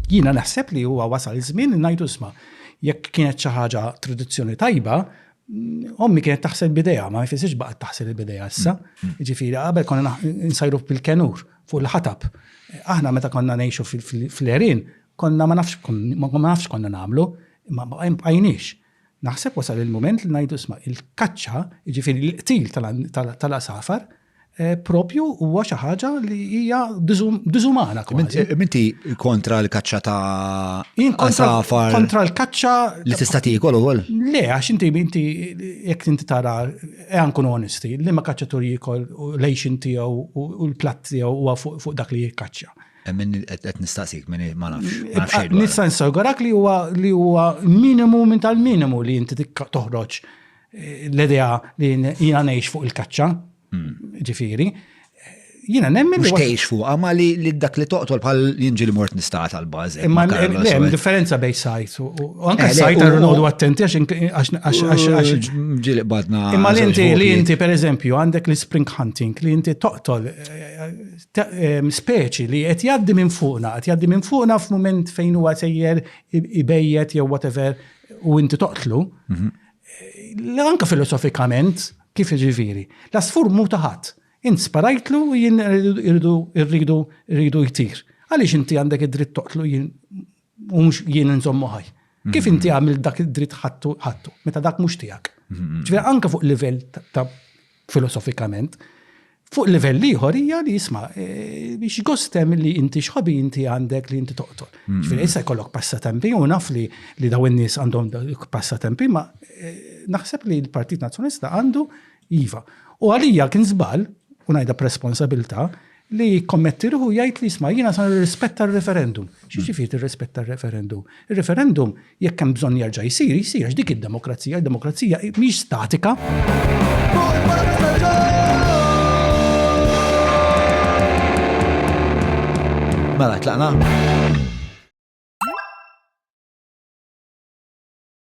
Jiena naħseb li huwa wasal żmien li ngħidu sma' jekk kienet xi ħaġa tradizzjoni tajba, ommi kienet taħsel bidejha, ma jfissirx baqgħet taħsel il-bidejha issa. Mm. Ġifieri qabel konna nsajru bil-kenur fuq il-ħatab. Aħna meta konna ngħixu fil-erin, konna ma nafx ma nafx konna nagħmlu, ma bqajniex. Naħseb wasal il-mument li ngħidu isma' il-kaċċa, jiġifieri l-qtil tal-għasafar, proprju huwa xi ħaġa li hija diżumana kważi. Minti kontra l-kaċċa ta' għasafar? Kontra l-kaċċa. Li tista' tiekol ukoll? Le, għax inti minti jekk inti tara ejja nkunu onesti, liema kaċċatur jiekol lejxin tiegħu u l-platt tiegħu huwa fuq dak li jikkaċċa. Min qed nistaqsik, min ma nafx. Nista' nsawgarak li huwa li huwa minimu minn tal-minimu li inti toħroġ eh, l-idea li jiena ngħix fuq il-kaċċa. Hmm. Ġifieri, jina nemmen. Mux teħx fuq, ma li dak li toqtol bħal jinġi li mort nistat għal bazi. Imma hemm differenza bej sajt. U anke eh, sajt għarru nodu attenti għax ġili badna. Imma li inti li inti per eżempju għandek li spring hunting li inti toqtol eh, ta' speċi li qed jgħaddi minn fuqna, qed jgħaddi minn fuqna f'mument fejn huwa sejjer ibejjet jew whatever u inti toqtlu. Mhm. Anka filosofikament kif iġifieri, l-asfur mu ta' ħadd. Int sparajtlu u jien irridu irridu jtir. Għaliex inti għandek id-dritt toqtlu jien u mhux jien nżommu ħaj. Kif mhm. inti għamil dak id-dritt ħattu ħattu, meta dak mhux tiegħek. Mhm. Ġifieri anke fuq livell ta' filosofikament, fuq livell ieħor hija li jisma' e, biex gostem li inti xħobi inti għandek li inti toqtol. Mhm. Ġifieri issa jkollok passatempi u naf li li daw in-nies għandhom passatempi ma e, naħseb li l-Partit Nazzjonista għandu Iva. U għalija kien żball, u ngħidha b'responsabilità, li kommetti ruħu jgħid li jisma' jiena sa nirrispetta r-referendum. Xi ġifieri tirrispetta r-referendum? Ir-referendum jekk hemm bżonn jerġa' jsir, jsir għax dik id-demokrazija, id-demokrazija mhix statika. Mela, tlaqna?